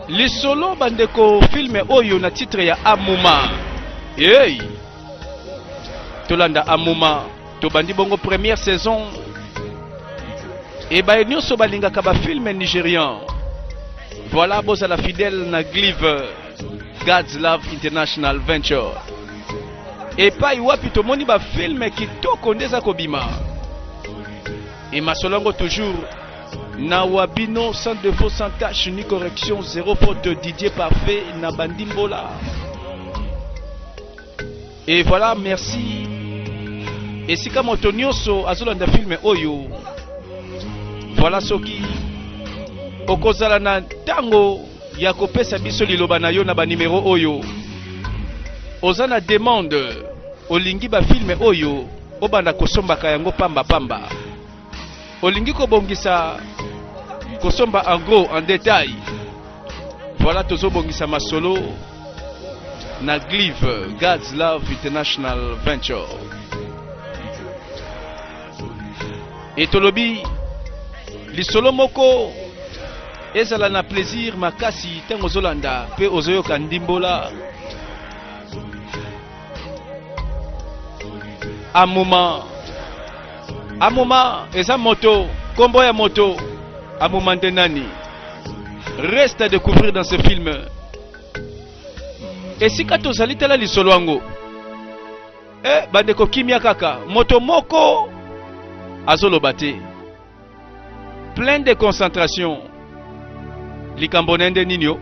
lisolo bandeko filme oyo na titre ya amuma hey! tolanda amuma tobandi bongo première saison ebaye nyonso balingaka bafilme nigérian voilà bozala fidèle na glive god's love international venture epai wapi tomoni bafilme kitoko nde eza kobima emasolo yango toujours na wabino sans défaut sans tâche ni correction zéro faute didier parfait na bandimbola et voilà merci esika moto nyonso azolanda filme oyo voilà soki okozala na ntango ya kopesa biso liloba na yo na banimero oyo oza na demande olingi bafilme oyo obanda kosombaka yango pamba pamba olingi kobongisa kosomba en gros en détail voilà tozobongisa masolo na glive god's love international venture e tolobi lisolo moko ezala na plaisir makasi ntango ozolanda mpe ozoyoka ndimbola amuma amuma eza moto kombo ya moto amuma nde nani reste à découvrir dans ce film esika tozali tala lisolo yango e bandeko kimia kaka moto moko azoloba te plein de concentration likambo na ye nde nini o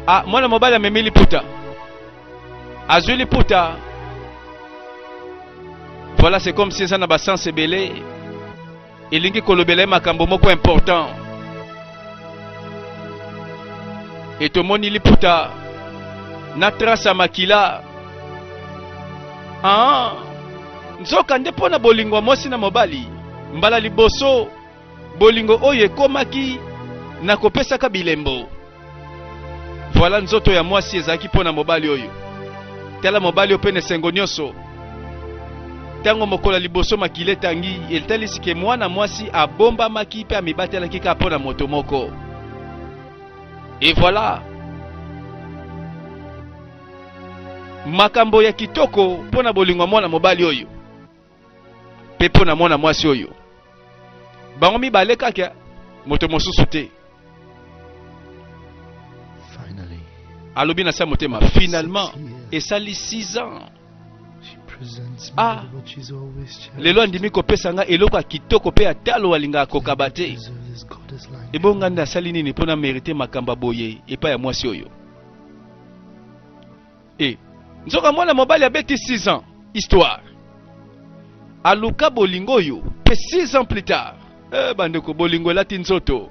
ah, mwana mobali amemi liputa azwi liputa voilà c'est comme si eza na basense ebele elingi kolobela ye makambo moko important e tomoni liputa na trace ya makila ah, nzoka nde mpo na bolingo ya mwasi na mobali mbala liboso bolingo oyo ekomaki na kopesaka bilembo voilà nzoto ya mwasi ezalaki mpo na mobali oyo tala mobali oyo mpe na esengo nyonso Tango mokolo ya liboso makila etangi, elitalisi ke mwana mwasi abombamaki pe amibatelaki kaka mpo na moto moko. Et voilà! Makambo ya kitoko mpo na bolingo ya mwana mobali oyo pe mpo na mwana mwasi oyo. Bango mibale kaka, moto mosusu te. Alobi na se ya motema, finalement, esali 6 ans. Ah, lelo andimi kopesa ngai eloko ya kitoko mpe ya talo alingaka kokaba te ebongo ngai nde asali nini mpo na merite makambo boye epai ya mwasi oyo e nzoka mwana mobali abeti 6 ans histoire aluka bolingo oyo mpe 6 ans plus tard eh, bandeko bolingo elati nzoto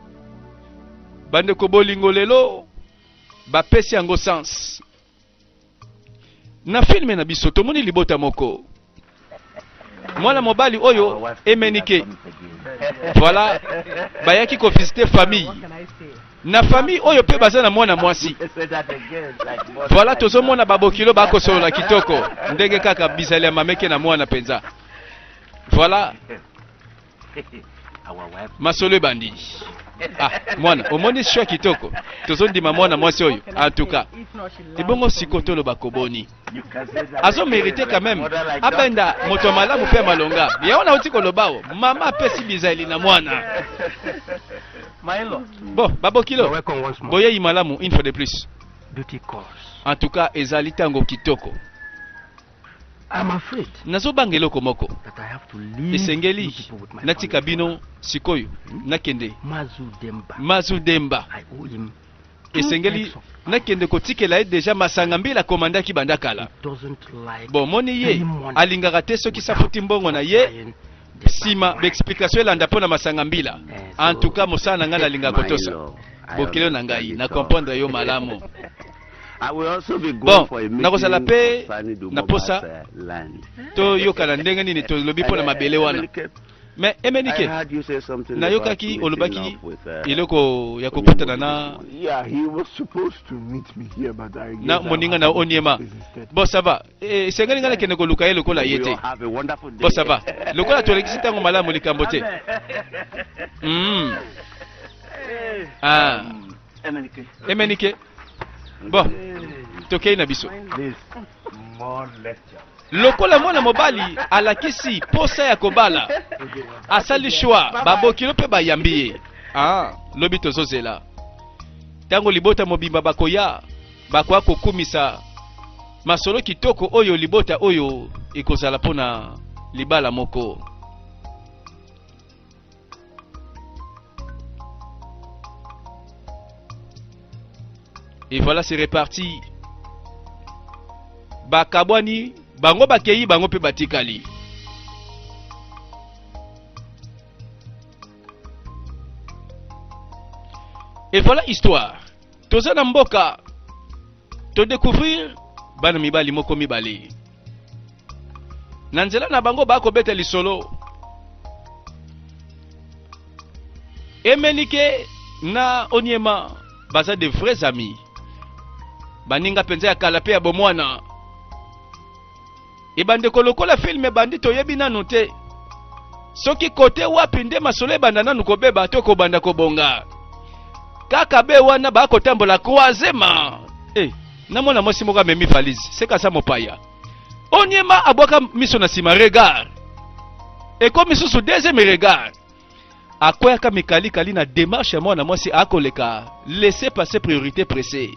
bandeko bolingo lelo bapesi yango sens Na filme na biso tomoni libota moko mwana mobali oyo emenike voilà bayaki kovisite famille na famille oyo mpe baza na mwana mwasi voilà tozomona babokilo bakosolola kitoko ndenge kaka bizali ya mameke na mwana mpenza voilà masolo ebandi ah, mwana omoni sho kitoko tozondima mwana mwasi oyo antuka ebongo siko toloba koboni azomerite quand même abenda moto ya malamu mpe ya malonga yango nauti kolobao mama apesi bizali na mwana bo babokilo boyei malamu une fois de plus en tout cas ezali ntango kitoko Nazobanga eloko moko. Esengeli natika bino sikoyo, hmm? nakende. Mazu Demba. Esengeli nakende kotikela ye deja masanga mbila akomandaki banda kala. Bomoni ye alingaka te soki safuti mbongo na ye nsima baexplikatio elanda mpo na masanga mbila. En tout cas mosala na ngai nalingaka kotosa bokilo na ngai na comprendre yo malamu. bon nakozala mpe na mposa toyokana ndenge nini tolobi mpo na mabele wana me emenike nayokaki olobaki uh, eloko ya kokutana na na moninga na oniema bon sava eh, esengeli ngai nakende koluka ye lokola ye te bon sava lokola tolekisi ntango malamu likambo te hmm. ah. um, emenike bon tokei na biso lokola mwana mobali alakisi posa ya kobala asali shwa babokilo mpe bayambi ye ah, lobi tozozela ntango libota mobimba bakoya bakoya kokumisa masolo kitoko oyo libota oyo ekozala mpo na libala moko Et voilà, c'est reparti. Bakabwani, bango bakeyi, bango pe batikali. Et voilà histoire. Toza na mboka. To découvrir bana mibali moko mibale. na nzela na bango bakobeta lisolo emenike na onyema baza de vrais amis baninga mpenza ya kala mpe ya bomwana ebandeko lokola filme ebandi toyebi nanu te soki kote wapi nde masolo ebanda nanu kobeba to kobanda kobonga kaka be wana bakotambola croisement eh. na mwana mwasi moko amemi valise seka sa mopaya onyema abwaka miso na nsima regard ekomi susu deuxième regard akweyaka mikalikali na demarche ya mwana mwasi akoleka laisse passer priorité presse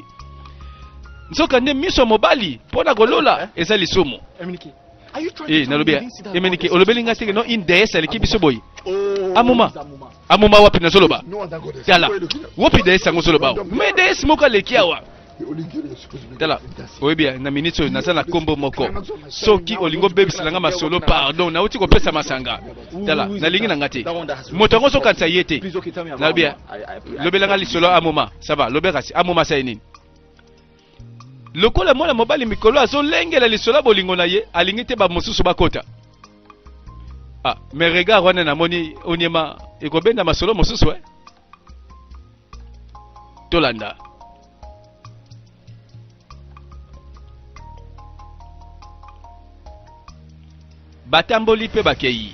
nzoka nde miso ya mobali mpo na kolola eza lisumu e nalobi emenike olobeli ngai teke no une deesse aleki biso boye oh, amuma amuma wapi nazoloba tala wapi deesse yango ozoloba me deesse moko aleki awa tala oyebi na minute oyo naza na nkombo moko soki olingi obebisa na nga masolo pardon nauti kopesa masanga tala nalingi na nga te moto yango ozokanisa ye te nalobi lobela nga lisolo amoma sava lobela kasi amoma sai nini lokola mwana mobali mikolo azolengela lisolo ya bolingo na ye alingi te bamosusu bakota ah, me regard wana namoni onyema ekobenda masolo mosusu eh? tolanda batamboli mpe bakei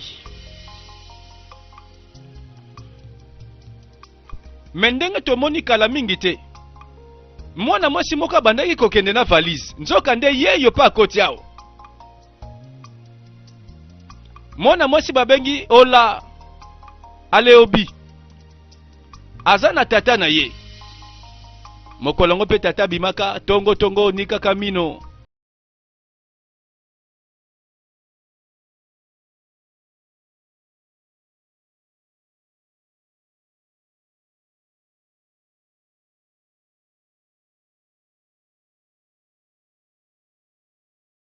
me ndenge tomoni kala mingi te mwana mwasi moko abandaki kokende na valise nzoka nde ye yo mpe akoti awa mwana mwasi babengi ola aleobi aza na tata na ye mokolo yango mpe tata abimaka tongo tongo onikaka mino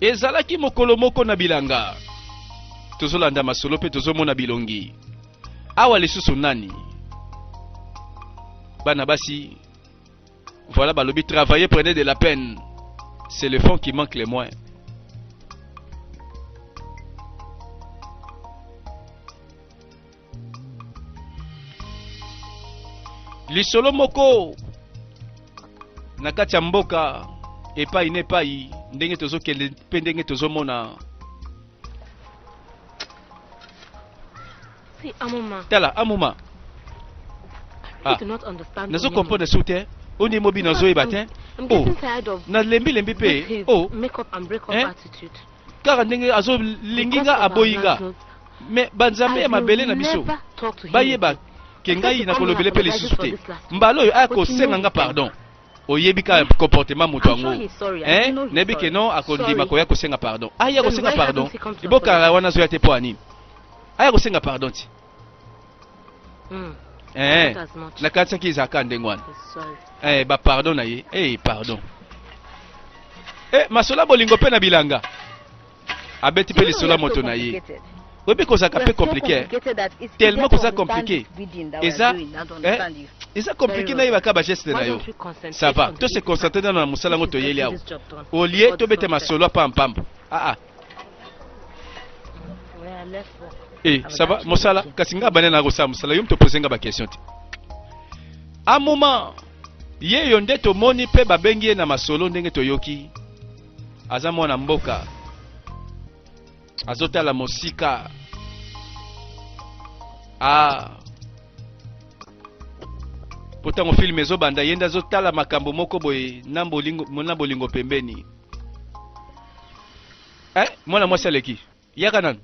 ezalaki mokolo moko na bilanga tozolanda masolo mpe tozomona bilongi awa lisusu nani bana basi voilà balobi travailler prenez de la peine c'est le fond qui manque le moins lisolo moko na kati ya mboka epai na epai ndenge tozokende mpe ndenge tozomona tala amuma ah. nazo comprendre su te oyo nde mobi nazoyeba te oh. nalembilembi mpe oh. kaka ndenge azo lingi nga aboyi nga mais ba nzambe ya mabele na biso bayeba ke ngai nakolobele mpe lisusu te mbala oyo aya kosenga nga pardon oyebi ka comportement moto yango eh, nayebi ke non akondima koya kosenga pardon aya ah, kosenga pardon ebokala wana azoya te mpo ya nini aya kosenga pardon ti Hmm. Eh, na kati saki ezalaka ndenge wana eh, bapardon na ye hey, eh, pardon eh, masola bolingo mpe na bilanga abeti mpe lisolo ya moto na ye oyebi kozalaka mpe komplike eh? tellement koza komplike eza eh, eza komplike nayebaka bageste na yo ça va to se concentre nano na mosala yango toyeli awa olie tobete masolo ya pampamba aa ah, ah. Eh, ça va, mosala, kasi nga bana na kosala mosala, yo mtopose nga ba question te. A moment, ye yo nde tomoni mpe babengi ye na masolo ndenge toyoki. Aza mwana mboka. Azotala mosika. Ah. Potango film ezobanda yenda azotala makambo moko boye na bolingo na bolingo pembeni. eh, mwana mwasi aleki yaka nanu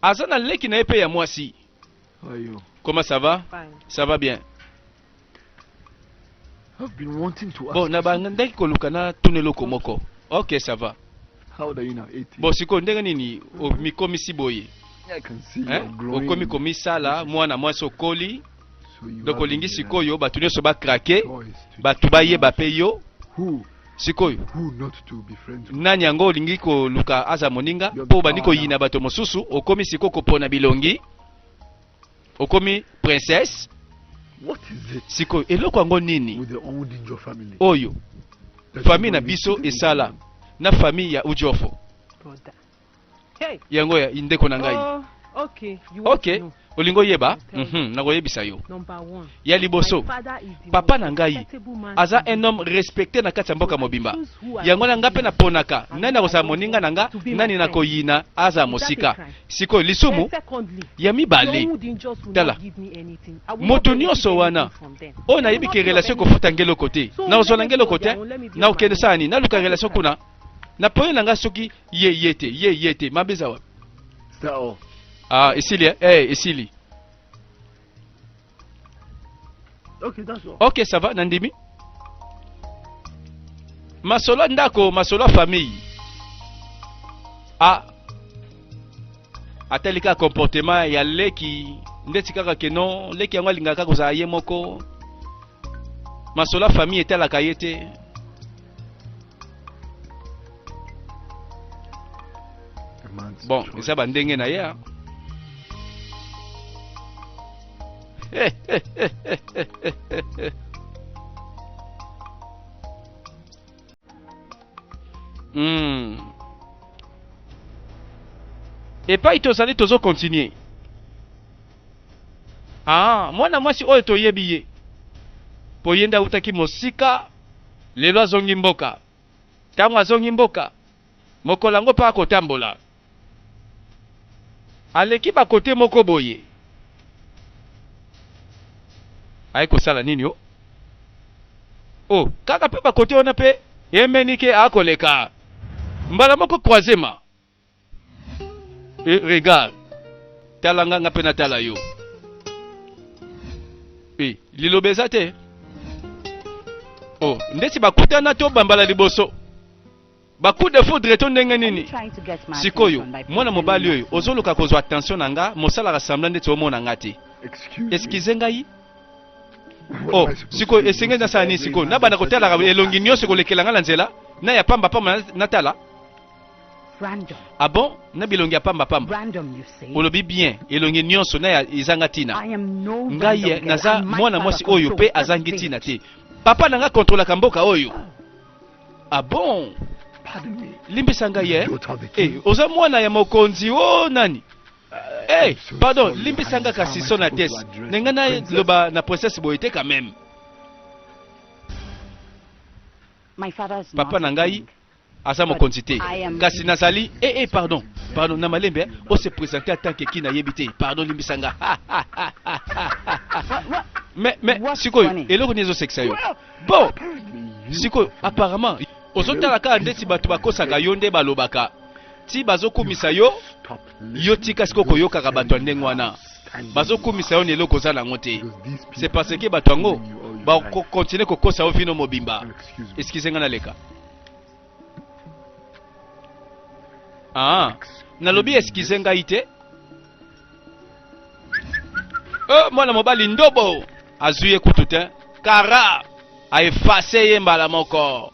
aza na leki na ye mpe ya mwasi Ayo. comment ça va Fine. ça va bien I've been wanting to ask. bon na bandaki koluka na tuna eloko moko ok ça va How old are you now? 18. bon sikoyo ndenge nini omikomisi boye I can see eh? you're glowing. okomi komisala mwana mwasi okoli donc olingi sikoyo bato nyonso bakrake bato bayeba mpe yo sikoyo nani yango olingi koluka aza moninga mpo obandi koyina bato mosusu okomi sikoyo kopona bilongi okomi princesse sikoyo eloko yango nini oyo famille na biso esala na famille ya ujofo Hey. yango ya ndeko na ngai Oh, okay. You want okay to know. olingi oyeba Yes, tell me. Mhm, nakoyebisa yo Number one. ya liboso My father is the papa most na ngai respectable man aza in un homme respecté na kati ya mboka mobimba yango na ngai mpe naponaka nani akozala moninga na nga nani nakoyina azala mosika sikoyo And lisumu secondly, ya no mibale wood in just will Tala. not give me anything. I will Moto not benefit nyonso wana, anything from them. oyo nayebi ke relation ekofuta nge eloko te So, nakozwa na nge eloko te let me go there, let me do nakokende my sala nini naluka relation kuna na pole na ngai soki ye ye te ye ye te mabe eza wapi sao ah esili eh hey, eh, esili okay, that's all. ok ça va nandimi masolo ya ndako masolo ya famille ah atali kaka comportement ya leki ndeti kaka ke non leki yango alingaka kozala ye moko masolo ya famille etalaka ye te bon eza bandenge na ye hmm. epai tozali tozokontinue ah, mwana mwasi oyo toyebi ye mpo ye nde autaki mosika lelo azongi mboka. Tango azongi mboka, mokolo yango pe akotambola. Aleki ba cote moko boye. Aye kosala nini oh? Oh, kaka pe ba cote wana pe Emenike akoleka. Mbala moko croisement. Eh, regarde. Tala nga nga pe na tala yo. Eh, liloba eza te. Oh, ndeti bakutana to bambala liboso. Ba coup de foudre to ndenge nini? Sikoyo, mwana mobali oyo ozoluka kozwa attention na nga, mosala ka semblant ndeti omona nga te. Excusez ngai. Oh, sikoyo esengeli nasala nini sikoyo? Nabanda kotalaka elongi nyonso kolekela nga na nzela? Na ya pamba pamba natala? Random. Ah bon Na bilongi ya pamba pamba. Random, you see. Olobi bien, elongi nyonso na ya ezanga tina. I am no random Ngai girl. naza And my mwana father mwasi oyo controls pe this azangi village. tina te. Papa na nga kontrolaka mboka oyo. Ah bon Pardon me. Limbisa ngai eh. Daughter of the Eh, king. oza mwana ya mokonzi o nani? Eh, so pardon, sorry, limbisa nga Highness. kasi How am I sona supposed tes. to address Nenga the na princess? loba na princesse boye te quand même. My father is Papa not na a ngai king. aza mokonzi te kasi nazali ee eh, eh, pardon pardon na malembe eh, o se présente en tant que ki nayebi te pardon limbisa nga mais mais sikoyo eloko nini ezosekisa yo bon sikoyo apparemment ozotala kaka ndeti bato bakosaka yo nde balobaka ti bazokumisa yo yo tika siko koyokaka bato ya ndenge wana bazokumisa yo na eloko oza nango te se parce ke bato yango bakokontinue kokosa yo vino mobimba eskize ngai naleka aa ah, nalobi eskize ngai te o oh, mwana mobali ndobo azwi ye kutu te kara aefase ye mbala moko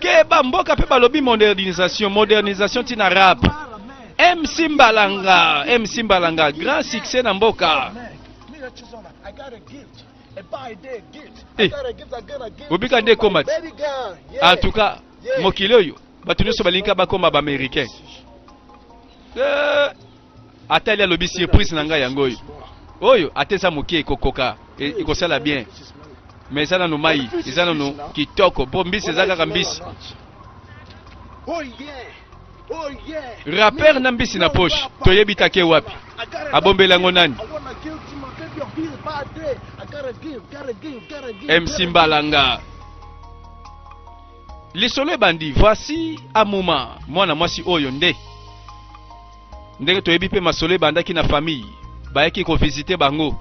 Keba mboka pe balobi modernisation, modernisation tina rap. MC Mbalanga, MC Mbalanga, grand succès na mboka. Eh, obika nde ekoma ti en tout cas mokili oyo bato nyonso balingaka bakoma baaméricain eh. ata ali alobi surprise na ngai yango oyo oyo ata eza moke ekokoka e, ekosala bien me eza nanu mai eza nanu kitoko mpo mbisi eza kaka mbisi rapere na mbisi na poche toyebi take wapi abombeli yango nani mc mbalanga lisolo ebandi voici amuma mwana mwasi oyo nde Ndenge toyebi mpe masolo ebandaki na famille, bayaki ko visiter bango,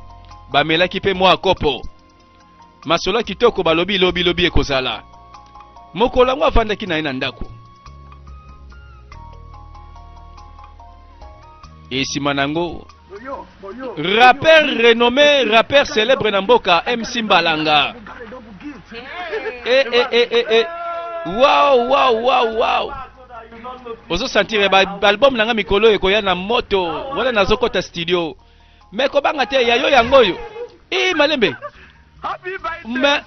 bamelaki mpe mwa kopo. Masolo ya kitoko balobi lobi lobi ekozala. Mokolo yango avandaki na ye na ndako. Esima nango rappeur renommé, rappeur célèbre na mboka MC Mbalanga. Eh eh eh eh eh. Wow wow wow wow. ozo sentir ba album nanga mikolo ekoya na moto wana nazo kota studio mais kobanga te ya yo yango oyo eh malembe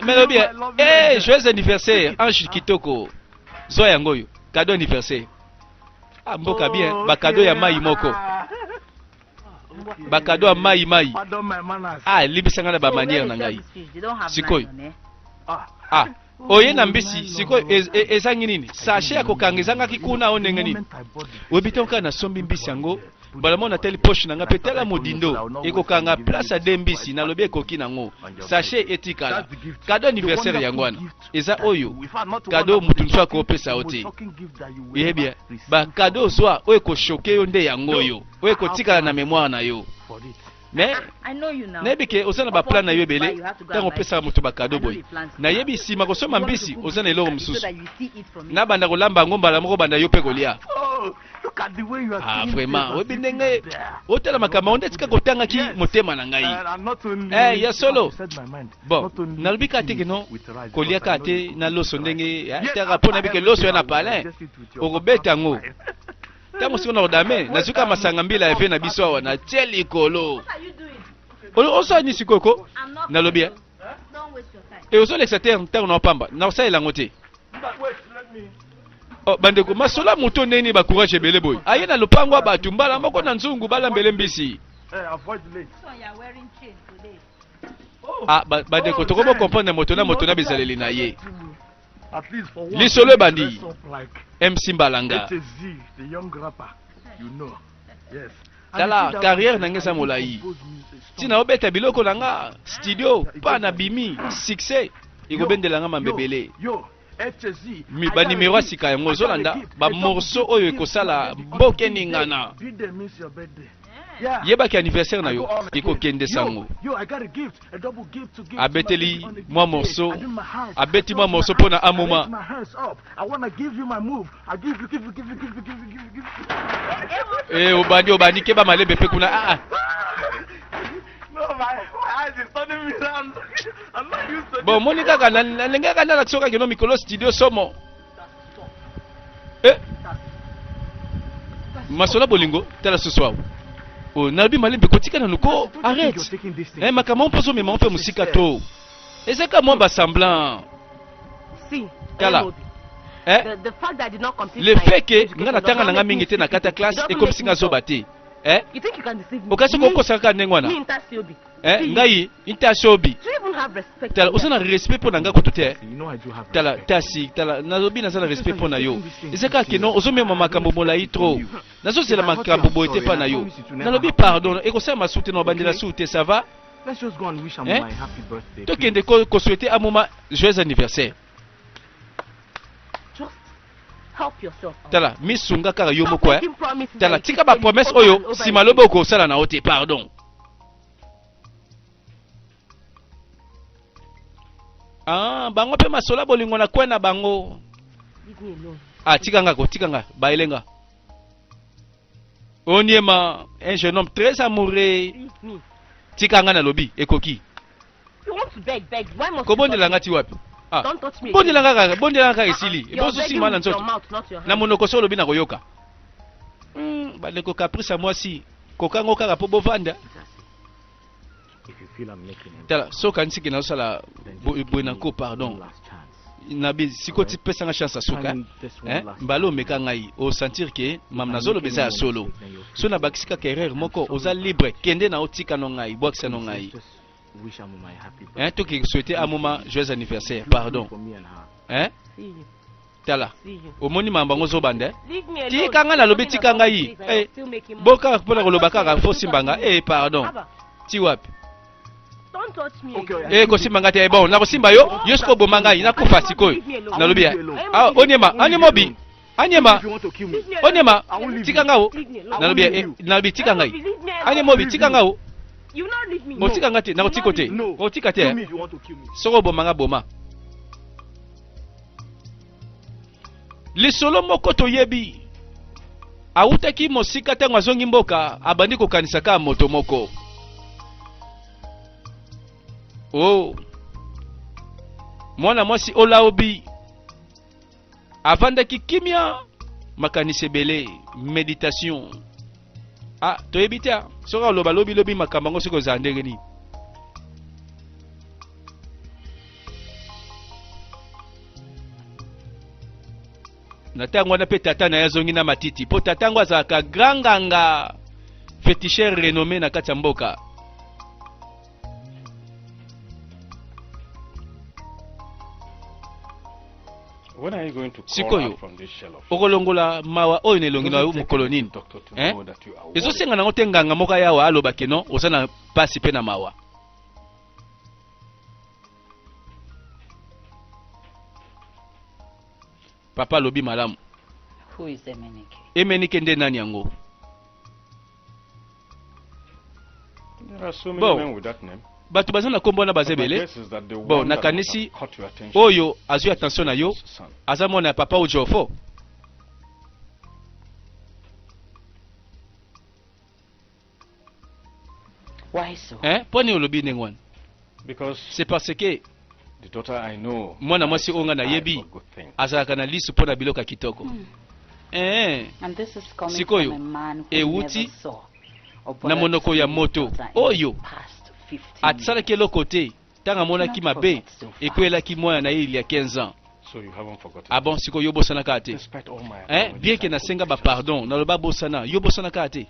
melobi eh joyeux anniversaire ange kitoko zwa yango oyo cadeau anniversaire ah mboka bien oh, ba cadeau ya mai moko ba cadeau ya mai mai ah libisa nga na ba manière na ngai sikoyo ah, ah. oye na mbisi sikoyo ezangi nini sashe ya kokanga ezangaki kuna o ndenge nini oyebi te okaa nasombi mbisi yango mbala moko natali poshe na ngai mpe tala modindo ekokanga place ya de mbisi nalobi ekoki nango sashe etikala kado anniversaire yango wana eza oyo kado moto mosusu akopesa yo te yebi bakado ozwa oyo ekoshoke yo nde yango oyo oyo ekotikala na memoire na yo mais nayebi ke oza na baplan na yo ebele ntango opesaka moto bakado boye nayebi nsima kosomba mbisi oza na eloko mosusu nabanda kolamba yango mbala moko banda yo mpe kolia ah, vraiment oyebi ndenge otala makambo yango nde tika kotangaki motema na ngai eh, ya solo bon nalobi kaka te keno kolia kaka te na loso ndenge eh, taka mpo nayebi ke loso ya na palin okobeta yango ntango siko na kodame nazwi kaka masanga mbila ya ve na biso awa na tie likolo osala nini sikoyo ko nalobi ya e ozolekisa te ntango na opamba na kosalela yango te oh, bandeko masolo ya moto ndenge nini bacourage ebele boye aye na lopango ya bato mbala moko na nzungu balambele mbisi ah, bandeko tokobo comprendre moto na moto na bizaleli na ye lisolo ebandi mc mbalanga tala carrière na nga eza molai ntina obeta biloko na nga studio pa na bimi succès ekobendela nga mambebele banimero ya sika yango ozolanda bamorso oyo ekosala mbokeningana yebaki anniversaire na yo ekokende sango abeteli mwa morso abeti mwa morso mpo na amoma e eh, obandi obandi keba malembe mpe kuna aa ah, ah. bon omoni kaka nalengaka nalakisokakeno mikolo studio somo Eh. Masola bolingo tala susu awa. Oh, nalobi malembe kotika nanu ko arrête. Eh makambo mpo ozomema mpe mosika to. Ezaka mwa ba semblant. Si. Tala. Eh? The, the le fait que nga natanga nanga mingi te na kata classe ekomisi nga zoba te eh? okasi kokosaka kaka ndenge wana Eh, ngai inta sobi tala oza na respect mpo na ngai kutu te tala tasi tala nalobi naza na respect mpo na yo eza kaka keno ozomema makambo molai trop nazozela makambo boye te mpa na yo nalobi pardon ekosala masu te na obandela su te ça va eh? tokende koswete amoma joyeux anniversaire tala misunga kaka yo moko eh. tala tika bapromese oyo nsima lobi okosala na yo te pardon ah, bango mpe masola bolingo na kwe na bango ah, tika nga ko tika nga bayelenga Oniema, un jeune homme très amoureux. Tika nga nalobi, ekoki. Kobondela nga ti wapi? Ah. Bondela nga kaka, bondela nga kaka esili. Ah, ah. Ebozo sima na nzoto. Na monoko so olobi na koyoka. Hmm, bandeko caprice ya mwasi, kokango kaka po bovanda. tala so okanisi ke nazosala boye na nko pardon nabi siko ti pesa nga chance asuka eh? mbala omeka ngai osentir ke mam nazoloba eza ya solo so nabakisi kaka erreur moko oza libre kende na otika no ngai bwakisa no ngai eh? toki souhaite amoma joyeux anniversaire pardon eh? tala omoni mambo yango zoba nde tika ngai nalobi tika ngai eh, bo kaka mpo na koloba kaka fo simba nga e eh, pardon ti wapi e eh, kosimba ngai te eh, bon nakosimba yo yo soki oboma ngai nakufa sikoyo nalobi ya ah, onyema onyema obi anyema onyema tika ngai o nalobi ya nalobi tika ngai anyema obi tika ngai o otika ngai te nakotika te otika te soki oboma ngai boma lisolo moko toyebi awutaki mosika ntango azongi mboka abandi kokanisa kaka moto moko o oh. mwana mwasi olaobi avandaki kimia makanisi ebele meditation ah toyebi te ah. soki aloba lobi lobi makambo yango soki ozala ndenge nini na ntango wana mpe tata na ye azongi na matiti mpo tata yango azalaka grand nganga fetichere renommé na kati ya mboka sikoyo okolongola mawa oyo na elongi na yo mokolo nini eh? ezosenga nango te nganga moko ayawa aloba keno oza na mpasi mpe na mawa papa alobi malamu emenike nde nani yango bon bato baza na nkombo wana baza ebele bon nakanisi oyo azwi attention na yo aza mwana ya papa ojofo eh, mpo nini olobi ndenge wana se parce que mwana mwasi oyo ngai nayebi azalaka na lisu mpo na biloko ya kitoko mm. ee eh, sikoyo ewuti na monoko ya moto oyo asalaki eloko te ntango amonaki mabe ekweyelaki mwana na ye ilia 15 ans So you haven't forgotten. Ah bon, siko yo bosana kate. Despite all my eh, bien que na senga ba pardon, na loba bosana, yo bosana kate.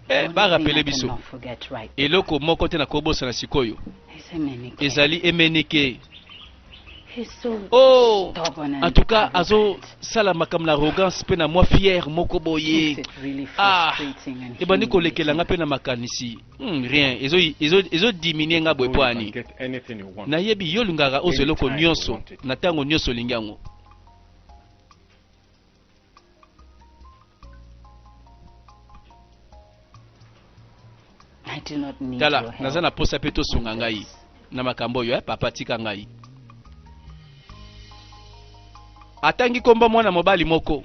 Eh, barapele biso eloko moko te nakobosana sikoyo ezali emenike oh en tout cas azosala makambo na arrogance mpe na mwa fiere moko boye ah ebandi kolekela nga mpe na makanisi hmm, rien ezodiminue nga boye mpo ani nayebi yo olingaka ozwa eloko nyonso na ntango nyonso olingi yango tala naza na posa mpe tosunga ngai na makambo oyo eh, papa tika ngai atangi kombo mwana mobali moko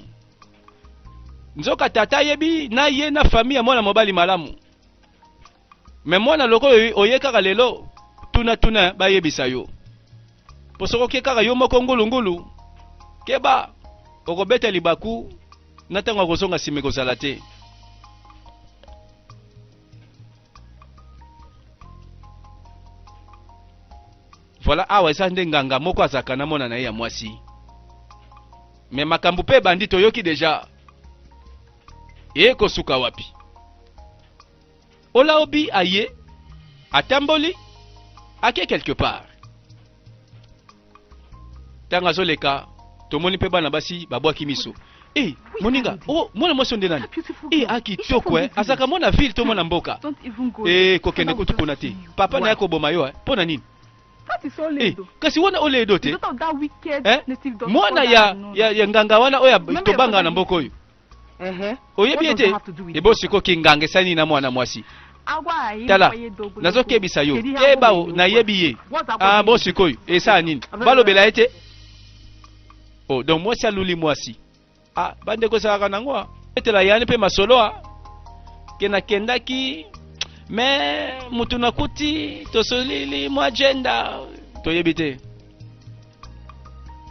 nzoka tata ayebi na ye na fami ya mwana mobali malamu Mais mwana lokola oye kaka lelo tuna tuna bayebisa yo. Po soko ke kaka yo moko ngulu ngulu keba okobeta libaku na ntango ya kozonga nsima ekozala te voilà awa eza nde nganga moko azalaka na mwana na ye ya mwasi me makambo mpe ebandi toyoki deja ekosuka wapi Olaobi aye, atamboli, ake quelque part. Tanga zoleka, tomoni pe bana basi babwaki miso. Eh, moninga, oh, mwana mwasi onde nani? Eh, aki toko eh, azaka mwana ville to mwana mboka. Eh, kokende kutu kuna te. Papa na yako boma yo eh, pona nini? Eh, kasi wana ole edo te. Eh, mwana ya ya, ya nganga wana oya tobanga na mboko oyo. oyebi ye te ebo siko kinganga esali nini na mwana mwasi tala nazokebisa yo keba o nayebi ye ah, bo sikoyo esala nini balobela ye te o oh, donc mwasi aluli mwasi ah, bandeko esalaka nango ah. etela yani mpe masolo a ke nakendaki me motu nakuti tosolili mwa jenda toyebi te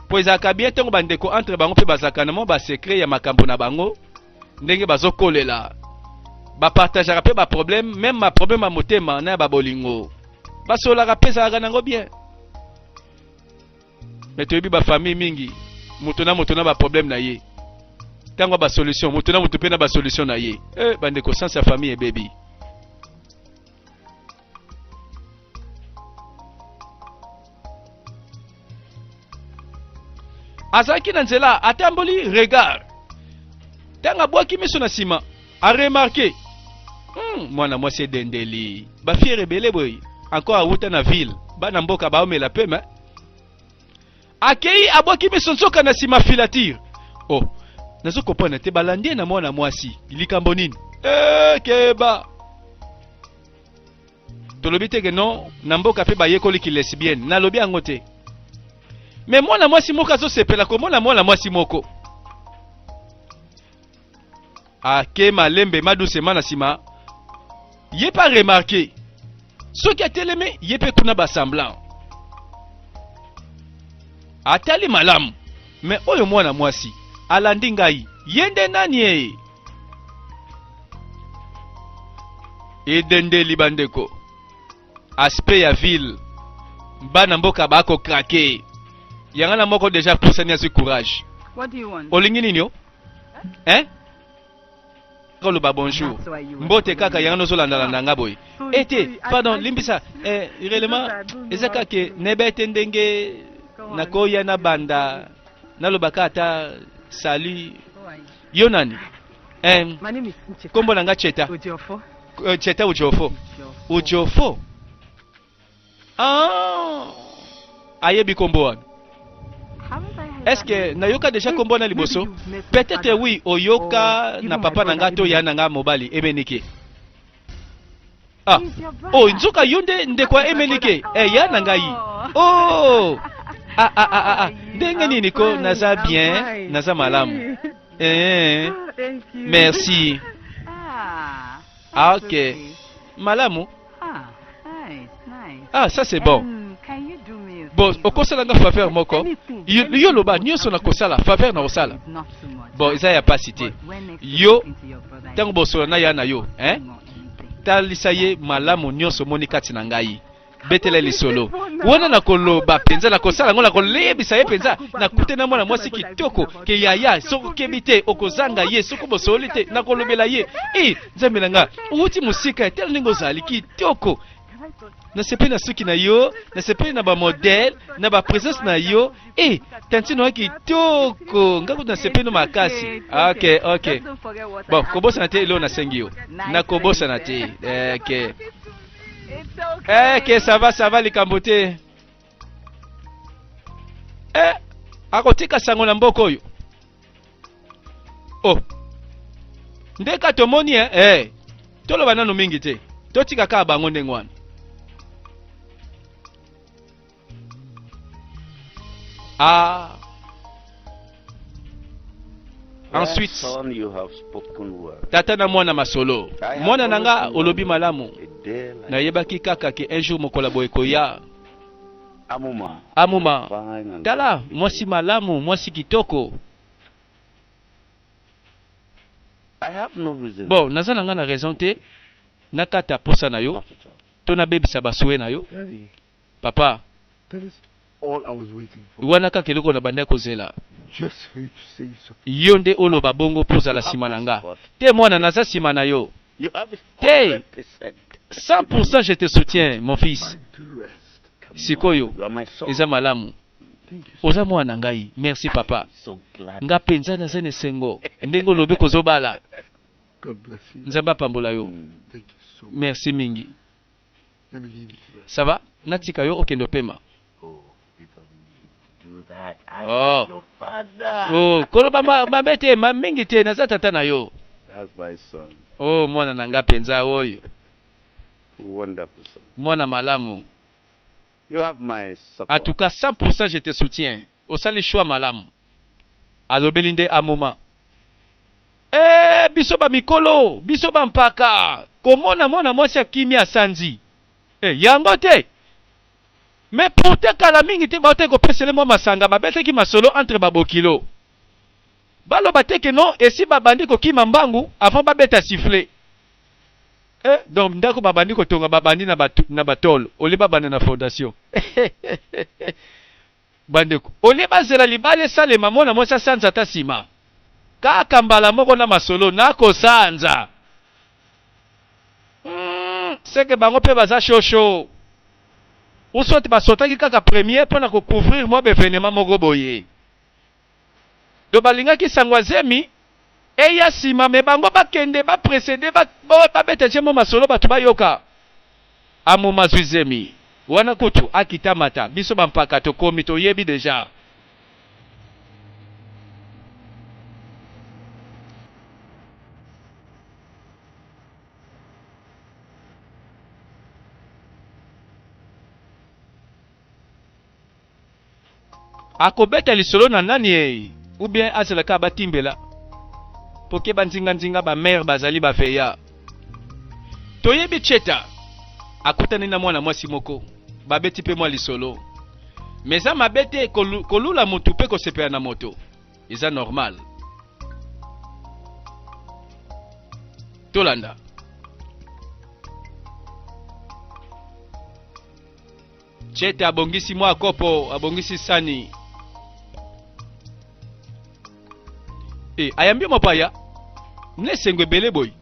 mpo ezalaka bien ntango bandeko entre bango mpe bazalaka na mwa basekret ya makambo na bango ndenge bazokolela bapartageaka mpe baproblème meme baproblème ya motema na ya babolingo basololaka mpe ezalaka nango bien me toyebi bafamille mingi moto na moto na baproblème na ye ntango ya basolution moto na moto mpe na basolution na ye e eh, bandeko sanse ya famille ebebi azalaki na nzela atamboli regard ntango abwaki miso na nsima aremarke hmm, mwana mwasi edendeli bafiere ebele boye encore awuta na ville bana mboka baomela pema akei abwaki miso nzoka na nsima filatire oh nazo kopona te balandi ye na mwana mwasi likambo nini ekeba eh, tolobi te ke non na mboka mpe bayekoli kilesbienne nalobi yango te me mwana mwasi moko azosepela komona mwana mwasi moko ake malembe madusema na nsima ye mpe aremarke soki atelemi ye mpe kuna basemblant atali malamu me oyo mwana mwasi alandi ngai ye nde nani eye edendeli bandeko aspect ya ville bana mboka bako krake yanga na moko deja apusani azwi courage olingi nini o eh? koloba bonjour mbote kaka yango nozolandalanda nga boye ete eh, pardon limbisa eh, relement eza kaka nebe te ndenge nakoya na banda nalobaka ata salut Yo nani? Eh, My name is Ncheta. kombo na nga Cheta. Ojiofo. Eh, Cheta Ujofo. Ujofo. Ah. Ayebi kombo wana. Est-ce que nayoka déjà kombo na liboso? Peut-être oui, oyoka na papa na nga to ya na nga mobali emenike. Ah, oh, nzoka yo nde ndeko ya emenike eh, ya na ngai oh. ah, ah, ah, ah, ah. ndenge ah, nini ko naza bien naza malamu eh, merci ah, ah ok malamu ah ça c'est bon bon okosala nga faveur moko yo loba nyonso nakosala faveur nakosala bon eza ya pasi te yo ntango bosola na ya na yo hein? talisa ye malamu nyonso omoni kati na ngai betela lisolo wana nakoloba mpenza nakosala yango nakoleyebisa ye mpenza nakute na mwana mwasi kitoko ke yaya soki okebi te okozanga ye soki bosoli te nakolobela ye e nzambe na nga outi mosika etala ndenge ozali kitoko nasepeli na suki na yo nasepeli na bamodele na bapresence na yo e eh, tantine oya kitoko ngai kutu nasepeli no makasi ok ok bon kobosana te eloo nasengi yo nakobosana te ok ok sava sava likambo te e akotika sango na mboka oyo o oh. nde ka tomoni e eh. toloba nano mingi te totika kaka bango ndenge wana ah. ensuite tata na mwana masolo mwana na nga olobi malamu nayebaki kaka ke un jour mokolo boye koya Amuma. Amuma, tala mwasi malamu, mwasi kitoko. Bon, naza na nga na raison te nakata posa na yo to nabebisa ba souhaits na yo. Papa, wana kaka eloko nabandaki kozela. Yo nde oloba bongo mpo ozala sima na nga. Te mwana, naza sima na yo. Tee cent pourcent je te soutiens mon fils sikoyo eza malamu oza mwana na ngai merci papa nga penza naza na esengo ndenge olobi kozo bala nzambe apambola yo merci mingi. Ça va natika yo okende opema. Oh. Oh, koloba ma, mabe te, ma mingi te, naza tata na yo. Oh, mwana na nga penza oyo. Mwana malamu. You have my support. En tout cas 100 pour 100 je te soutiens osali choix malamu alobeli nde amoma eeh biso ba mikolo biso ba mpaka komona mwana mwasi akimi asanzi eh yango te mais pourtant kala mingi te bautaki kopesa ye mwa masanga babetaki masolo entre ba bokilo baloba te que non esi babandi kokima mbangu avant babeta sifflet Eh donc ndaku ba bandi ko tonga ba bandi na ba tolo au lieu ba banda na fondation eheheheh ba ndeko au lieu ba zela libala esalema muana muasi asanza ata sima kaka mbala moko na masolo nako sanza humm ce que bango pe baza chaud chaud ou soit ba sautaki kaka premier pona ko couvrir mua ba evenements moko boye. Donc balingaki sango ya zemi eya sima mais bango ba kende ba precede ba babeta je mot masolo batu ba yoka a mot mazui zemi wana kutu a kita mata biso ba mpaka to komi to yebi deja Ako beta lisolo na nani ee ou bien azela kaka ba timbela po keba nzinga nzinga ba mère ba zali ba veya to yebi cheta akutani na mwana mwasi moko ba beti pe mwa lisolo mais eza mabe te ko lula mutu pe ko sepela na moto eza normal tolanda Chete abongisi mwa kopo, abongisi sani. E, ayambi mopaya na esengo ebele boye.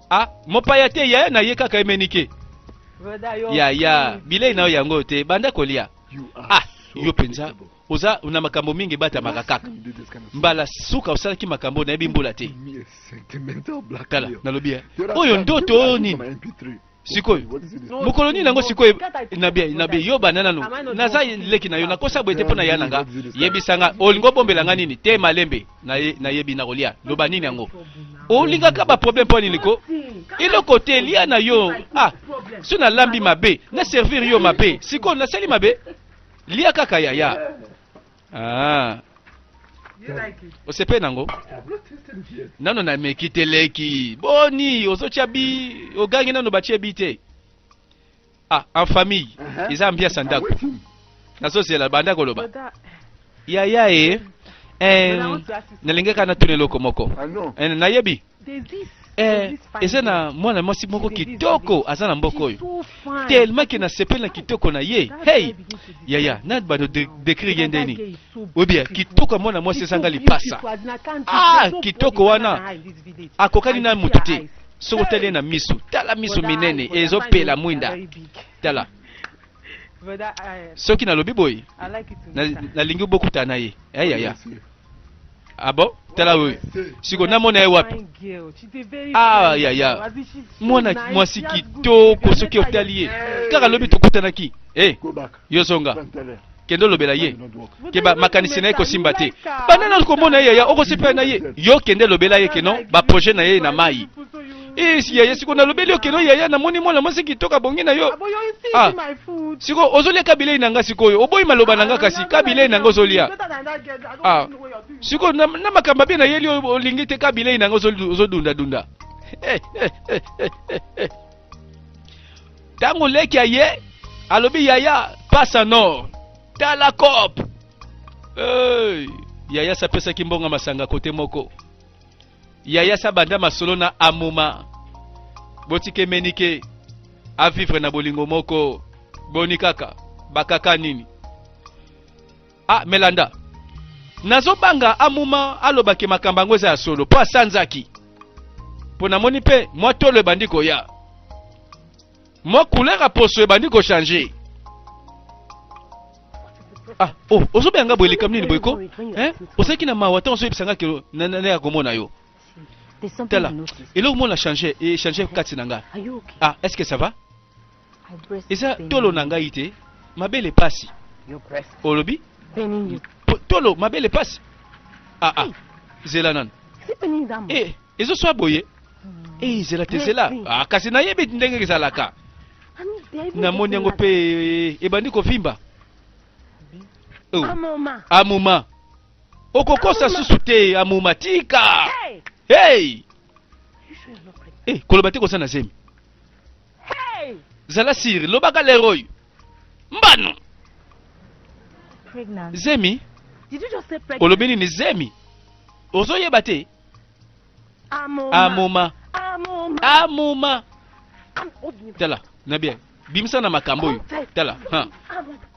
Ah, mopaya te yaya na ye kaka emenike. Yaya, bilei na yo yango te, banda kolia. Ah, yo penza oza na makambo mingi ebatamaka kaka mbala suka osalaki makambo nayebi mbula te tala nalobi eh. oyo ndoto oyo nini sikoyo mokolo nini yango sikoyo nabi yo banda nano naza leki na yo nakosa boye te mpo na ya na nga yebisa nga olingi obombela nga nini te malembe nayebi na kolia loba nini yango olingaka baproblème mpo nini ko eloko te lia na yo ah so nalambi mabe na servir yo mabe sikoyo nasali mabe Lia kaka yaya. Ah. Osepe nango? Nano na meki te leki. Boni ozotia bi ogangi nano batie bi te. Ah, en famille. Uh-huh. Eza ambiance ndako. Ah, Nazozela banda koloba. Yaya e. Eh, eh nalingaka natuna eloko moko. Ah, eh, nayebi. Eh, eza na mwana mwasi moko kitoko aza na mboka oyo telema ke nasepeli na kitoko na ye hey yaya na bano dekri ye ndeni obia kitoko ya mwana mwasi ezanga lipasa ah kitoko wana akokani na moto te soki otali ye na miso tala miso minene ezopela mwinda tala soki nalobi boye nalingi bokutana na ye ayaya eh, eh, abo ah tala oyo siko namona ye wapi ayaya ah, mwana mwasi kitoko soki otali ye kaka lobi tokutanaki e eh, yo zonga kende olobela ye ke makanisi na ye kosimba te banda na komona ye yaya okosepela na ye yo kende lobela ye keno baprojet na ye na mai Eh, si yaya siko nalobeli yo keno yaya namoni mwana mwasi kitoko abongi na yo Abo yo isi Ah. my food. siko ozolia ka bilei na nga sikoyo oboyi maloba na nga kasi ka bilei na nga ozolia Ah. siko na, na makambo abe nayeli oyo olingi te ka bilei na nga ozo- ozodundadunda Eh, eh, eh, eh, eh, eh. ntango leki aye alobi yaya pasa nord tala cop hey. yaya sapesaki mbongo ya masanga kote moko yaya sa banda masolo na amuma botike menike a vivre na bolingo moko boni kaka bakaka nini ah melanda nazobanga amuma alobaki makambo yango eza ya solo mpo asanzaki mpo namoni mpe mwa tolo ebandi koya Moi couleur ya poso ebandi ko changer. Ah, oh, ozobe yanga boye likambo nini boye ko? Hein? Osaki na mawa tango ozoyebisa nga ke na na ya komona yo. Tala, eloko mona changer, e changer kati na nga. Ah, est-ce que ça va? Eza tolo na ngai te, mabele pasi. Olobi? Tolo mabele pasi. Ah ah, zela nanu. Eh, ezo swa boye. Hey, zela te zela ah, kasi nayebi ndenge ezalaka namoni yango mpe ebandi kovimba oh. amuma okokosa susu te amuma tika hey! hey, eh, koloba te kosa na zemi hey! zala siri lobaka lero oyo mbano zemi olobi nini zemi ozoyeba te amoma amoma tala na bien bimisa na makambo oyo tala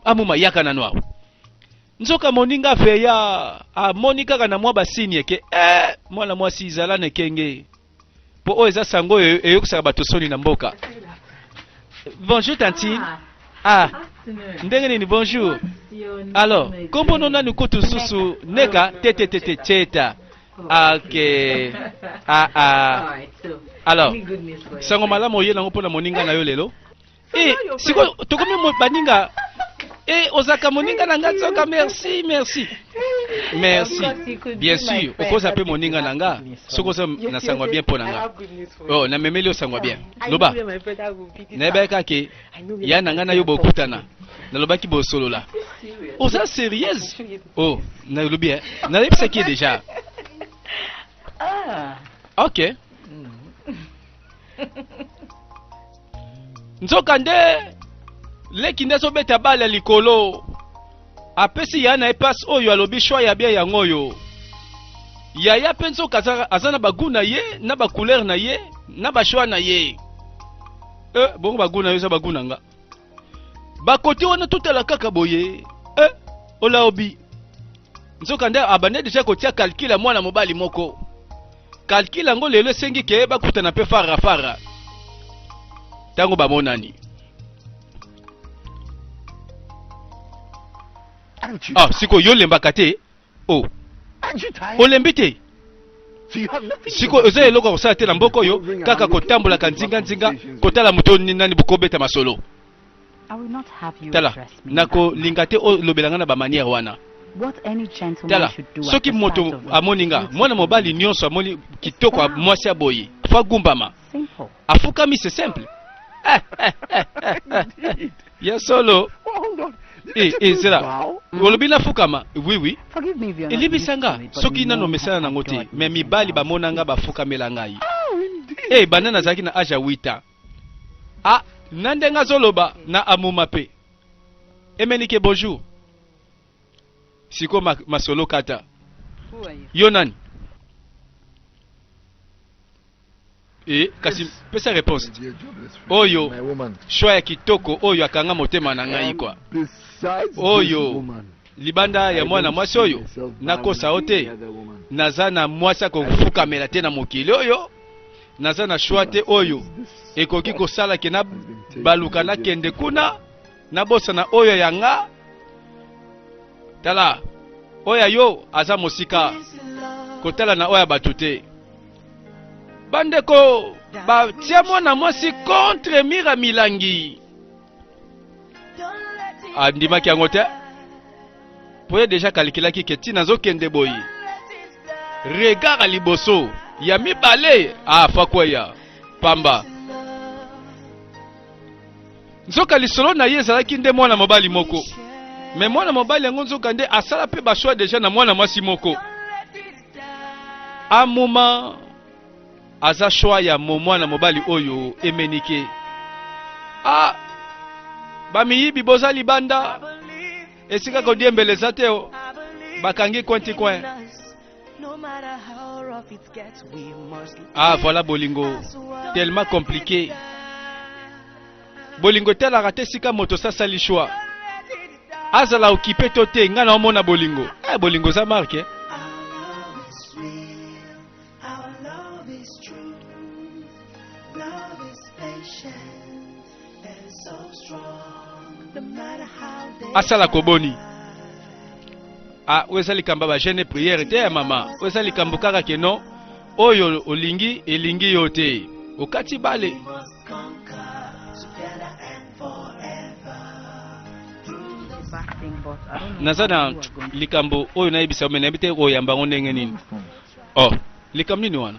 amoma yaka nano awa nzoka moninga feya amoni kaka na mwa basini eke eh, mwana mwasi izala na ekenge mpo oyo eza sango oyo eyokisaka bato soni na mboka bonjour tantine ah. ah ndenge nini bonjour alors kombo no nani kutu susu neka tetetete cheta Ah, ok. Ah, ah. Alors, sango malamu oye nango mpo na moninga na yo lelo. Eh, sikoyo tokomi mo- baninga. Eh, ozalaka moninga na nga nzoka, merci, merci. Merci. Bien sûr, okoza mpe moninga na nga. Soki oza na sango ya bien mpo na nga. Oh, namemeli yo sango ya bien. Loba, nayebaki kaka ke ya na ngai na yo bokutana nalobaki bosolola oza sérieuse oh nalobi eh nayebisaki ye déjà ah. ok nzoka nde leki nde azobeta bale ya likolo apesi yaya na ye mpasi oyo alobi shwa ya bia yango oyo yaya mpe nzoka aza na bagu na ye na bacouleur na ye na bashwa na ye eh, bongo bagu na yo eza bagu na nga bakoti wana totala kaka boye eh, olaobi nzoka nde abande deja kotia kalkile ya mwana mobali moko kalkile yango lelo esengi ke bakutana mpe farafara ntango bamonani ah sikoyo yo olembaka te o oh. olembi te sikoyo oza eloko ya kosala te na mboka oyo kaka kotambolaka nzinganzinga kotala moto nani bokobeta masolo tala nakolinga te olobela ngai na bamaniere wana tala soki moto amoni nga mwana mobali nyonso amoni kitoko mwasi ya boye fagumbama afukami c'est simple eh, eh, eh, eh, eh. ya solo Eh, eh, zela olobi nafukama oui oui elibisa nga soki nano mesana nango te me mibali bamona nga bafukamela ngai e banda nazalaki na age ya 8 ans ah na ndenge azoloba na amuma mpe emenike bonjour sikoyo ma, masolo kata yo nani Eh, kasi pesa reponse oyo shwa ya kitoko oyo akanga motema na ngai kwa oyo libanda ya mwana mwasi oyo nakosa o te naza na mwasi akofukamela te na mokili oyo naza na shwa te oyo ekoki kosala ke na baluka nakende kuna nabosana oyo ya nga tala oyo ya yo aza mosika kotala na oyo ya bato te bandeko batia mwana mwasi contre mira milangi andimaki yango te mpo ye deja kalikilaki ke ntina azokende boye regard ya liboso ya mibale afakweya ah, pamba nzoka lisolo na ye ezalaki nde mwana mobali moko me mwana mobali yango nzoka nde asala mpe bashwa deja na mwana mwasi moko amuma aza shwa ya mo mwana mobali oyo emenike a bamiyibi boza libanda esika kodiembela eza te bakangi kwenti kwen Ah voilà bolingo tellement compliqué bolingo etalaka te esika moto sasali choix azala okipe to te ngai na omona bolingo eh, bolingo eza marke eh? asala ko boni ah, oyo eza likambo ya bagene priere te ya mama oyo eza likambo kaka ke non oyo olingi elingi yo te okati bale naza na likambo oyo nayebisa yo me nayebi te oyamba yango ndenge nini oh likambo nini wana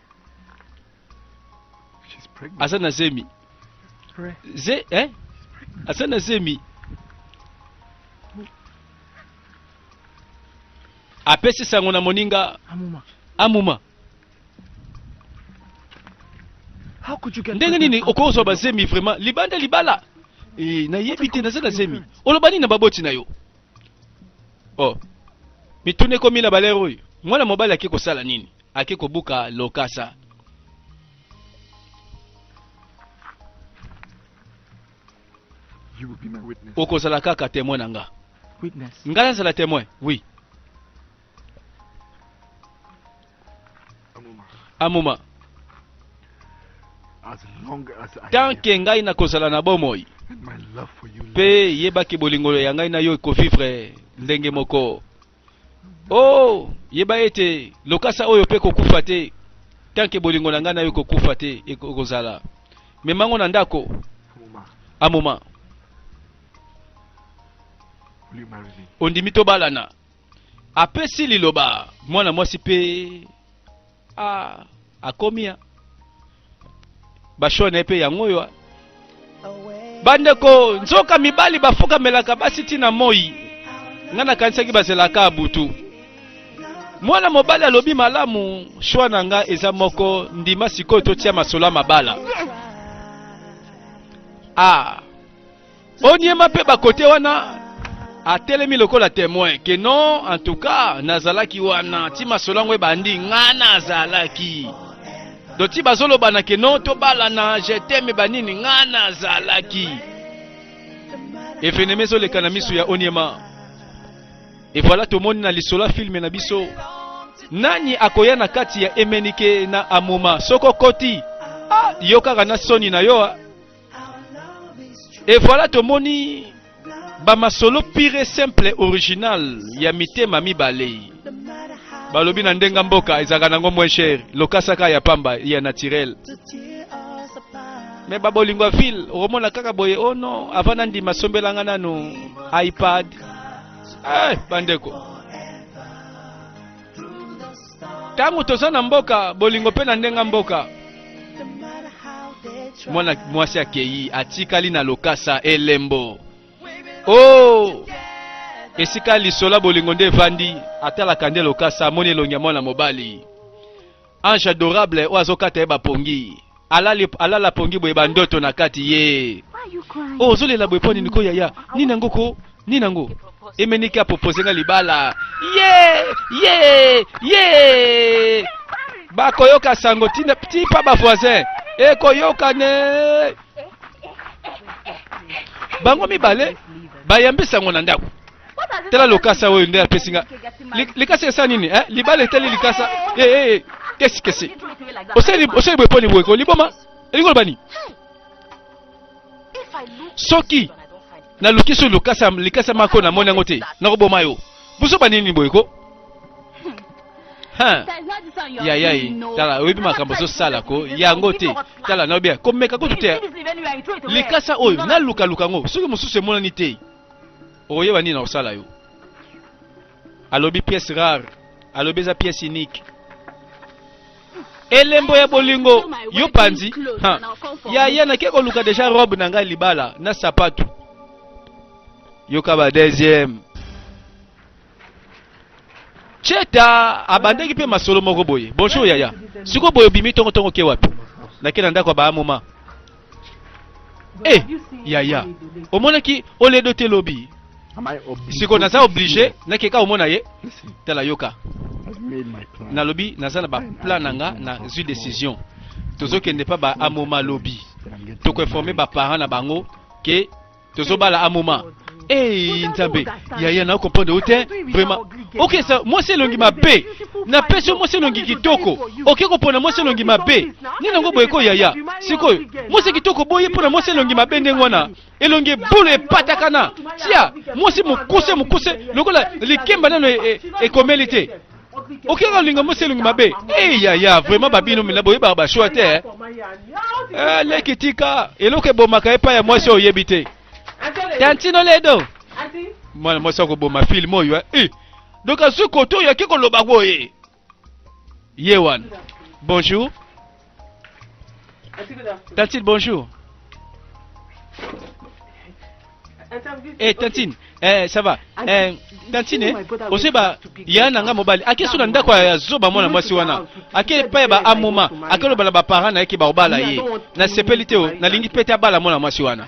aza na zemi ze eh? aza na zemi apesi sango na moninga amuma, amuma. ndenge nini okozwa bazemi vraiment libanda libala e, nayebi te naza na zemi oloba nini na baboti na yo o oh. mituna ekomi na balere oyo mwana mobali ake kosala nini ake kobuka lokasa. okozala kaka temoin na nga nga nazala temoin oui amoma tant ke ngai nakozala na bomoi mpe yebaki bolingolo ya ngai na yo ekovivre ndenge moko oh yeba ete lokasa oyo mpe kokufa te tanke bolingo na ngai na yo kokufa te ekozala memango na ndako amoma ondimi tobalana apesi liloba mwana mwasi mpe Ah, akomi ya bashone mpe yango oyo bandeko nzoka mibali bafukamelaka basi ntina moi ngai nakanisaki bazelaka butu mwana mobali alobi malamu shwa na ngai eza moko ndima sikoyo totia masolo ya mabala ah. Onyema mpe bakote wana atelemi lokola temoin ke non en tout cas nazalaki wana ti masolo yango ebandi nga nazalaki do ti bazolobana ke non tobalana je teme banini nga nazalaki evenema ezoleka na miso ya onyema e voilà tomoni na lisolo ya filme na biso nani akoya na kati ya emenike na amoma soko koti ah, yo kaka na soni na yo ah. Et voilà tomoni ba masolo pire et simple original ya mitema mibale balobi na ndenga mboka ezalaka nango moins cher lokasaka ya pamba ya naturel me babolingo ya ville okomona kaka boye o oh non avant nandima sombelanga nanu ipad eh, bandeko ntango toza na mboka bolingo mpe na ndenga mboka mwana mwasi akei atikali na lokasa elembo o oh! esika lisola bolingo nde evandi atalaka nde lokasa amoni elongi ya mwana mobali ange adorable oyo azokata ye bapongi alali alala pongi boye ba ndoto na kati ye oh, ozolela boye mpo nini ko yaya nini yango ko nini yango emeniki apropose nga libala ye ye ye bakoyoka sango tina ti pa ba voisin ekoyoka ne bango mibale bayambi sango na ndako tala lokasa oyo nde apesi nga likasa esa nini eh? libala etali likasa hey, eh, eh, hey, eh. kesi kesi osali boye mpo liboye ko liboma elingi oloba nini soki naluki so lokasa likasa mako namoni yango te nakoboma yo bozoba nini boye ko ya ya ye tala oyebi makambo ozosala ko yango te tala nayobi komeka kutu te likasa oyo nalukaluka yango soki mosusu emonani te okoyeba nini na kosala yo alobi pièce rare alobi eza pièce unique elembo ya bolingo yo panzi yaya nake koluka deja robe na ngai libala na sapatu yoka ba deuxième Cheta abandaki mpe masolo moko boye. Bonjour yaya. Siko boye obimi tongo tongo ke wapi? Nake na ndako ya ba moma. Eh, yaya. Omonaki oledo te lobi. Siko naza oblige nake ka omona ye. Tala yoka. Nalobi naza na ba plan na nga na zui decision. Tozokende pa ba amoma lobi. Toko informer ba parents na bango ke tozobala a moment Hey, Nzambe, yaya na comprendre yo te vraiment. Okay, sa mwasi elongi mabe. Na pesi mwasi elongi kitoko. Oke kopona mwasi elongi mabe. Nini yango boye ko yaya? Sikoyo, mwasi kitoko boye mpona mwasi elongi mabe ndenge wana. Elongi bulu epatakana. Tia, mwasi mokuse mokuse lokola likemba nano ekomeli e, e te. oke kolinga mwasi elongi mabe e yaya vraiment babino mina boyebaka bashua te eh. eh, leki tika eloko ebomaka epai ya mwasi oyo oyebi te tantino ledo mwana mwasi akoboma filme oyo eh. eh. donc azwi koto oyaki koloba boye ye wana bonjour Tantine, bonjour. Eh, tantine, eh, ça va. Eh, tantine, ose ba ya na nga mobali. Ake so na ndako ya zoba mwana mwasi wana. Ake pa ba amoma, ake loba na ba parents na yake ba obala ye. Na sepeli te o, na lingi pete abala mwana mwasi wana.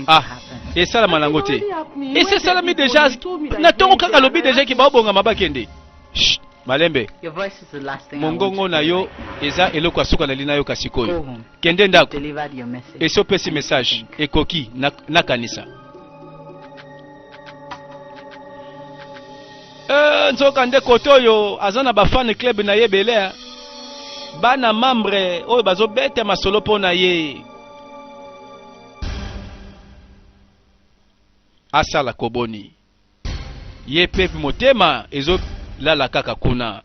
Ah, esalama nango te esi esalami deja na ntongo kaka alobi deja ke baobongama bakende malembe mongongo na yo eza eloko ya suka nali nayoka sikoyo kende ndako esi opesi message ekoki nakanisa na Eh, nzoka nde kote oyo aza na bafane club na ye ebele bana membre oyo bazobeta masolo mpo na ye asala koboni ye pe motema ezolala kaka kuna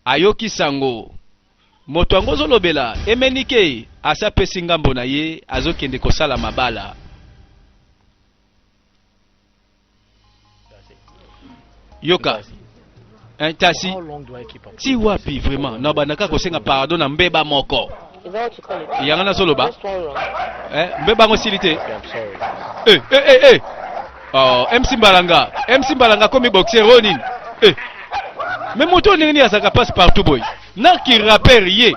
ayoki sango moto yango ozolobela emenike asi apesi ngambo na ye azokende kosala mabala yoka eh, tasi ti wapi vraiment na bandaka kosenga pardon na mbeba moko yanga nazoloba eh, mbeba yango esili te eh, eh, eh, eh. Oh, mc mbalanga mc mbalanga akomi boxer oyo nini eh. me moto oyo ndenge nini azalaka passe partout boye na kiraper ye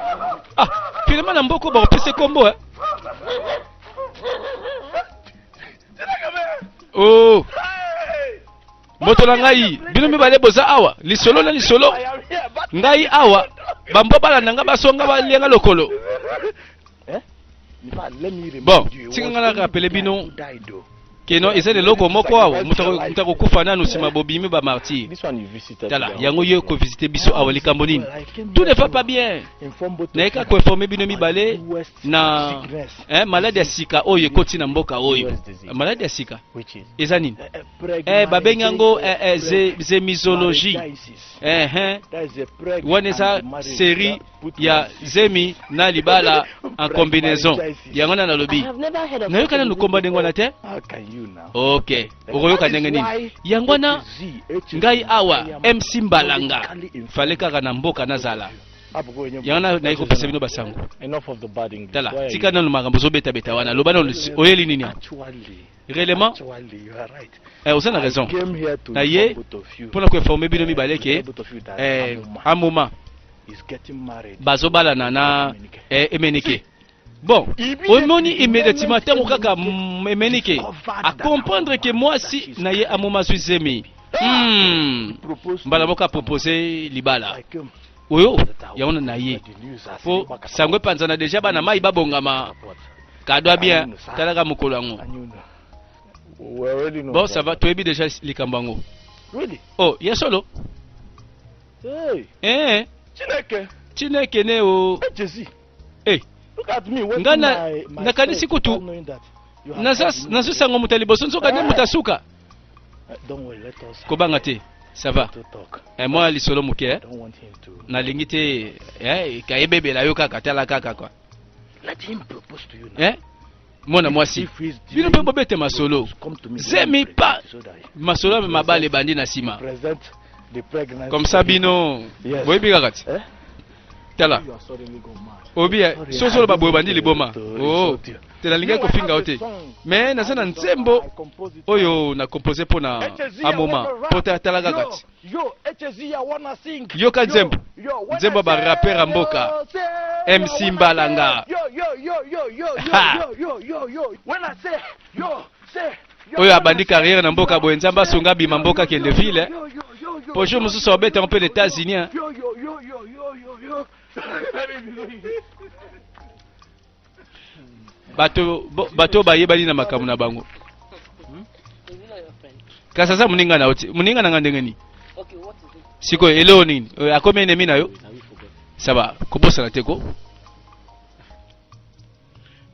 ah, finalement na mboko bakopesa kombo eh. oh moto na ngai bino mibale boza awa lisolo na lisolo ngai awa bambwa balanda ngai basonga balia ngai lokolo eh? bon tika ngai nakapele bino keno eza eloko moko awa moto akokufa nanu nsima bobimi bamartire tala yango yo ekovisite biso awa likambo nini tout ne va pas bien nayeka koinforme bino mibale na eh, maladi ya sika oyo ekoti na mboka oyo maladi ya sika eza nini eh, eh, eh babengi yango eh, eh, ze, zemizologie eh, eh. wana eza serie ya zemi na libala en combinaison yango wana nalobi nayoka nanu komba ndenge wana te ok okoyoka ndenge nini yango wana ngai awa mc mbalanga fale kaka na mboka nazala yango naye kopesa bino basango tala tika nanu makambo ozobetabeta wana loba nanu oyeli nini réellement eh, oza na raison na ye mpo na koinforme bino mibale ke eh, amoma bazobalana na eh, emenike Bon, omoni immédiatement tango kaka emenike a comprendre que mwasi na ye amoma zwi zemi hmm. mbala moko apropose libala oyo yango na ye mpo sango epanzana deja bana mai babongama kadwa bien talaka mokolo yango bon ça va toyebi deja likambo yango oh ya solo eh. chineke chineke ne o oh. eh, Eh, nga na, nakanisi kutu nazo sanga moto ya liboso nzoka nde moto asuka kobanga te ça va eh, mwa lisolo moke eh? nalingi te eh, kayebebela yo kaka tala kaka kwa eh? mwana mwasi bino mpe bobete masolo zemi pa masolo ya mabale ebandi na nsima comme ça bino boyebi kaka ti eh? tala obi eh, soki oloba boye obandi liboma oo te oh, nalingaki kofinga yo te mais naza na nzembo oyo na compose mpo na amoma mpo tala kaka ti Yoka nzembo nzembo ba rapper ya mboka MC Mbalanga oyo abandi carrière na mboka boye nzambe asunga abima mboka akende ville eh. po jour mosusu abeta mpe na états-unis eh. bato bayebani na makambo na bango hmm? kasi aza moninga na yo te moninga na nga ndenge nini sikoyo eloo nini euh, akomi enemi na yo saba ah kobosana te ko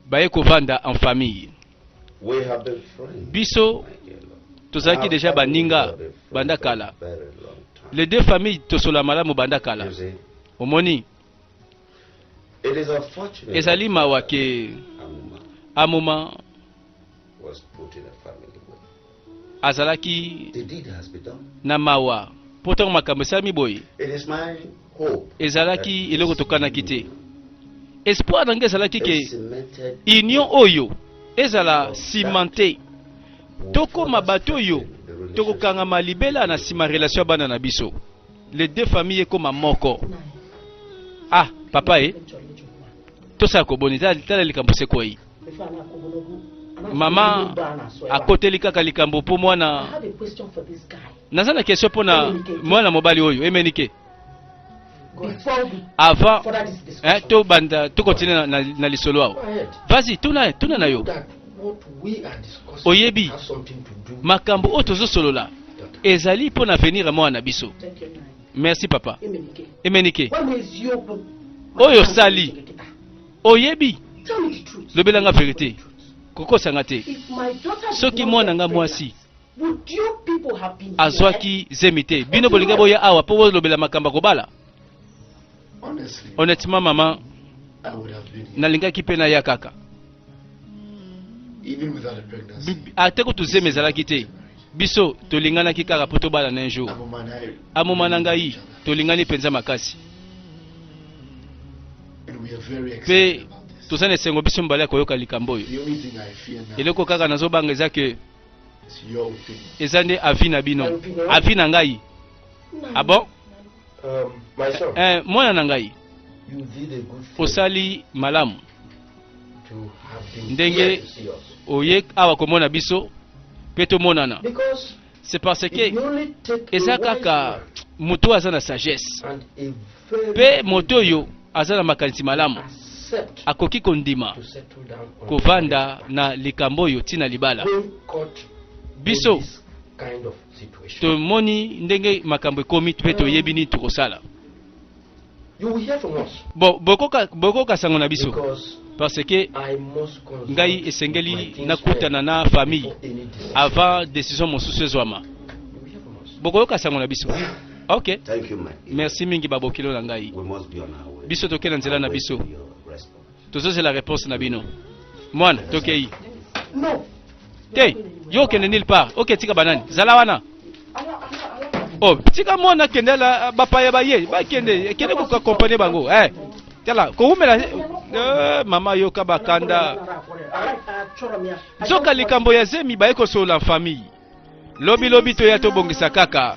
baye kovanda en famille biso tozalaki deja baninga banda kala les deux familles tosola malamu banda kala omoni Ezali mawa ke Amoma azalaki na mawa mpo ntango makambo esalami boye ezalaki eloko tokanaki te espoir na ngai ezalaki ke union oyo ezala cimente tokoma bato oyo tokokangama libela na nsima relation ya bana na biso les deux familles ekoma moko ah papa e tosala koboni tala likambo sekwei mama akoteli kaka likambo mpo mwana naza na question mpo na mwana mobali oyo emenike avant eh, tobanda tokontinue na, na, na lisolo awa vasi tuna, tuna na yo oyebi makambo oyo tozosolola ezali mpo na avenir ya mwana na biso merci papa emenike oyo osali oyebi lobelanga verite kokosanga te soki mwana nga mwasi azwaki zemi te bino bolingi boya awa mpo bolobela makambo ya kobala honnêtement mama nalingaki mpe naya kaka ate kutu zemi ezalaki te biso tolinganaki kaka mpo tobalana un jour amoma na ngai tolingani mpenza makasi mpe toza na esengo biso mibale ya koyoka likambo oyo eloko kaka nazobanga eza ke eza nde avi na bino avi na ngai ah bon um, eh, mwana na ngai osali malamu ndenge oye awa komona biso mpe tomonana c'est parce que eza kaka moto aza na sagesse mpe moto oyo aza na makanisi malamu akoki kondima kovanda na likambo oyo ntina libala biso tomoni ndenge makambo ekomi mpe toyebi nini tokosala bokoka sango na biso parce que ngai esengeli nakutana na famille avant décision mosusu ezwama bokoyoka sango na biso ok merci mingi babokilo na ngai biso tokenda nzela na biso tozozela reponse na bino mwana tokei non te yo okende nil part oke tika banani zala wana oh tika mwana akende ala bapaya baye bakende kende kokakompane bango eh tala kowumela eh, mama yoka bakanda nzoka likambo ya zemi baye kosolola famille lobilobi toya tobongisa kaka